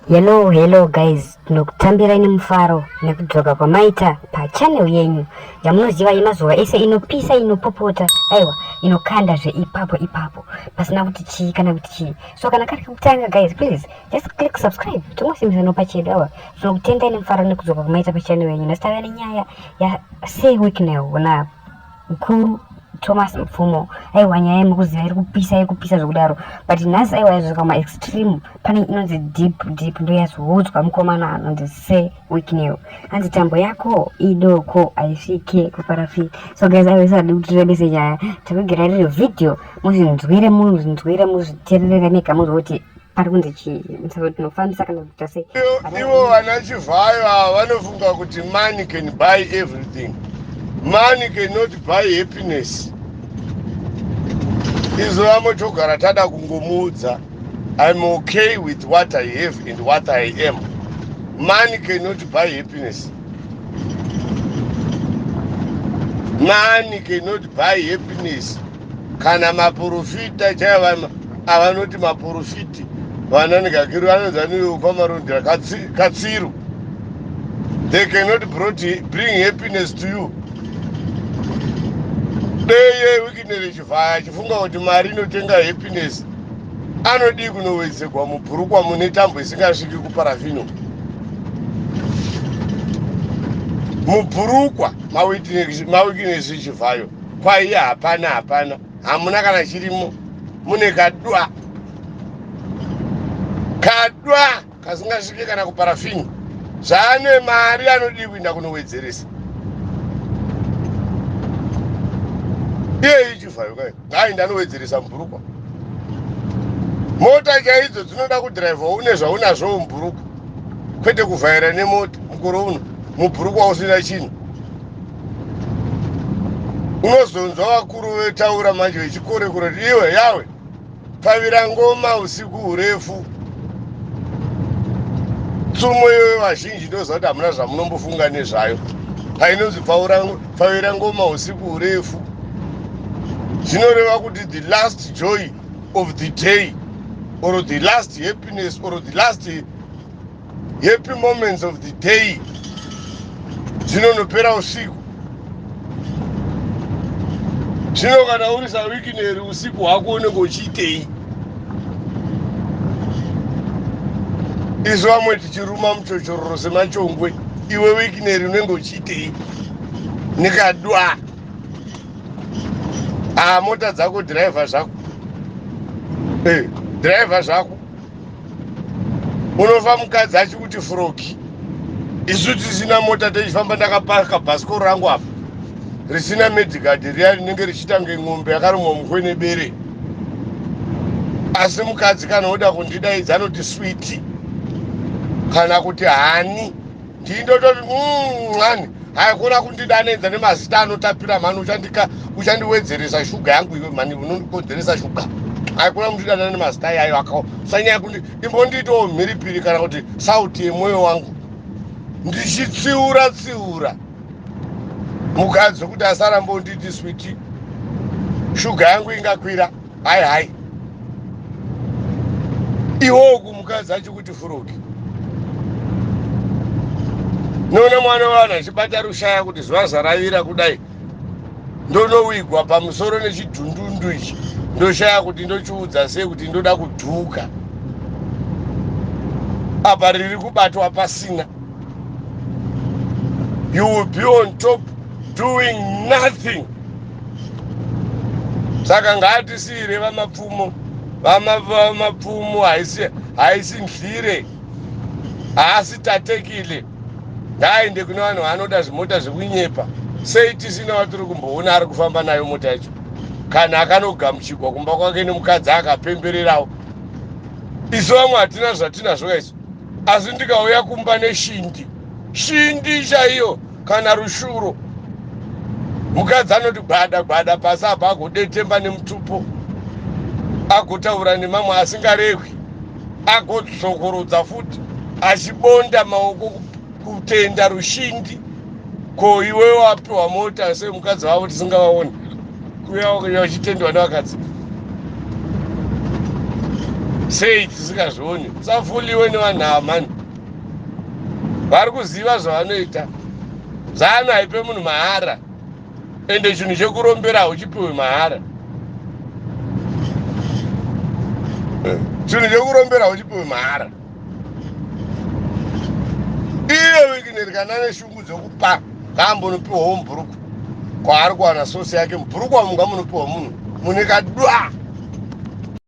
Hello, hello guys, ndinokutambira ini mufaro nekudzoka kwamaita pachannel yenyu yamunoziva yemazuva ese inopisa inopopota aiwa inokanda zveipapo ipapo pasina kuti chii kana kuti chii so kana kari kekutanga guys please just click subscribe tingosimbisa nopa chedu awa tinokutenda ini mufaro nekudzoka kwamaita pachannel yenyu nasitava nenyaya yasewiknel unapo Mkuru Thomas Mfumo aiwa nyaya yemukuziva iri kupisa iri kupisa zvokudaro but nhasi aiwa yazvika ma extreme pane inonzi deep deep ndoyazowodzwa mukomana anonzi se weeknew hanzi tambo yako idoko haisvike kuparafi so guys aiwa isadi kuti tirebese nyaya tikugira riri video muzvinzwire muzvinzwire muzvitererere mega muzvoti ari kunzi chii musaka tinofambisa kana kuita sei ivo vana chivhayo ava vanofunga kuti money can buy everything money cannot buy happiness izvo vamotogara tada kungomuudza im okay with what i have and what i am money cannot buy happiness money cannot buy happiness kana maporofita chaiva avanoti maporofiti vananigakiro vanonzi vanoukwamarondera katsiru they cannot bring happiness to you deye wikinere chivhaya achifunga kuti mari inotenga happiness anodii kunowedzegwa mubhurukwa mune tambo isingasviki kuparafino mubhurukwa mawikinesi chivhayo kwaiye hapana hapana hamuna kana chirimo mune kadwa kadwa kasingasvike kana kuparafini zvaane mari anodii kuinda kunowedzeresa iyeyi chivhayo kai ngaainda anowedzeresa mubhurukwa mota chaidzo dzinoda kudhiraivha une zvaunazvowo mubhurukwa kwete kuvhaira nemota mukore uno mubhurukwa usina chinhu unozonzwa vakuru vetaura manje vechikore kure kuti iwe yawe pfavira ngoma usiku hurefu tsumo iyoyo vazhinji ndoziva kuti hamuna zvamunombofunga nezvayo painonzi pfavira ngoma usiku hurefu zvinoreva kuti the last joy of the day or the last happiness or the last happy moments of the day dzinonopera usiku zvino kana uri sawikineri usiku hwako unenge uchiitei isu vamwe tichiruma muchochororo semachongwe iwe wikineri unenge uchiitei nikadwa aa ah, mota dzako dhiraivha zvako eh, dhiraivha zvako unofa mukadzi achikuti froki isu tisina mota tichifamba ndakapaka bhasikoro rangu apa risina medicard riya rinenge richitange n'ombe yakarumwa mukwe nebere asi mukadzi kana oda kundidaidza anoti switi kana kuti hani ndii ndototi mm, mani haikona kundidanenza nemazita anotapira mani uchandika uchandiwedzeresa shuga yangu iwe mani unondikonzeresa shuga haikona kundidana nemazita iyayo akawo sanyaya kuti imbondiitawo mhiripiri kana kuti sauti yemwoyo wangu ndichitsiura tsiura mukadzi wekuti asarambonditi switi shuga yangu ingakwira hai hai iwo uku mukadzi achikuti furuki noona mwana wani achibata rushaya kuti zuva zaravira kudai ndonowigwa pamusoro nechidhundundu ichi ndoshaya kuti ndochiudza sei kuti ndoda kudhuka apa riri kubatwa pasina you will be on top doing nothing saka ngaatisiire vamapfumo vamapfumo haisi haisi nhlire haasi tatekile ngaaende kune vanhu vaanoda zvimota zvekunyepa sei tisina vatiri kumboona ari kufamba nayo mota yacho kana akanogamuchigwa kumba kwake nemukadzi akapembererawo isu vamwe hatina zvatinazvo kaisu asi ndikauya kumba neshindi shindi chaiyo kana rushuro mukadzi anoti gwada gwada pasi apa agodetemba nemutupo agotaura nemamwe asingarehwi agozokorodza futi achibonda maoko kutenda rushingi ko iwe wapiwa mota semukadzi wavo tisingavaoni kuya uchitendwa nevakadzi sei tisingazvioni safuliwe nevanhu ava mani vari kuziva zvavanoita zanu haipe munhu mahara ende chinhu chekurombera hauchipiwe mahara eh, chinhu chekurombera hauchipiwe mahara iye wikineri kana ane shungu dzekupa ngaambonopiwa wo mubhuruku kwaari kuwana sosi yake mubhuruku wamunga munopiwa munhu mune kadwa